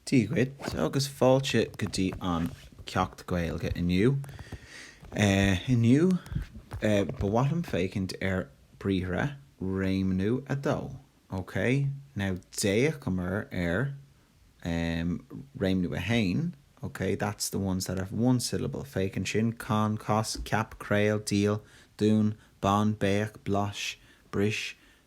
Dia dhuit agus fáilte go dtí an Ceacht Gaeilge inniu. Inniu, ba mhaith liom féachaint ar Briathra, Réimniú 2, ok? Now, d'fhéachamar ar Réimniú 1, ok? That's the ones that have one syllable, féach ansin, can, cas, ceap, craol, díol, dún, bain, béach, blais, bris,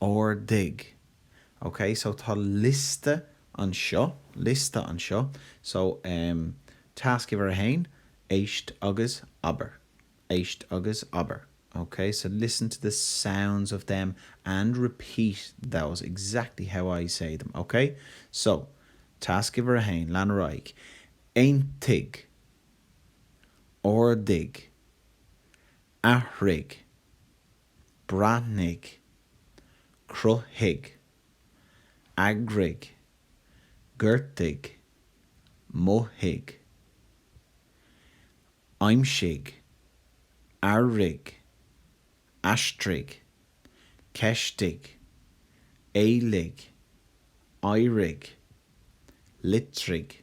Ardaigh. Ok, so tá liosta anseo, liosta anseo, so em tasc uimhir a haon, éist agus abair, éist agus abair. Ok, so listen to the sounds of them and repeat those exactly how I say them, ok? So, tasc uimhir a haon, lean ar aghaidh. Aontaigh. Ardaigh. Athraigh. breathnaigh, cruthaigh, eagraigh, gortaigh, mothaigh, aimsigh, airigh, aistrigh, ceistigh, éiligh, éirigh, litrigh.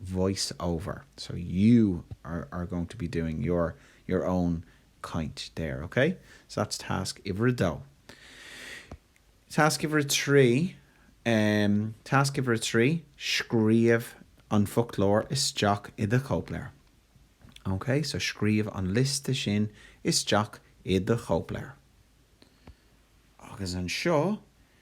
voice over so you are going to be doing your your own caint there ok so that's tasc uimhir a dó tasc uimhir a trí em tasc uimhir a trí scríobh an foclóir isteach i do chóipleabhar ok so scríobh an liosta sin isteach i do chóipleabhar agus anseo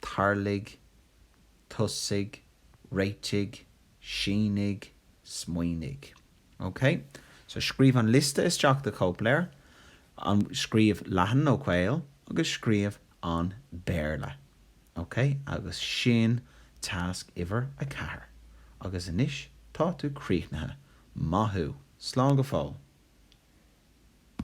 tarlaigh, tosaigh, réitigh, sínigh, smaoinigh. OK? So scríobh an liosta isteach i do chóipleabhar, an, scríobh leathan nó caol agus scríobh an Béarla. OK? Agus sin tasc uimhir a ceathair. Agus anois tá tú críochnaithe. Maith thú. Slán go fóill.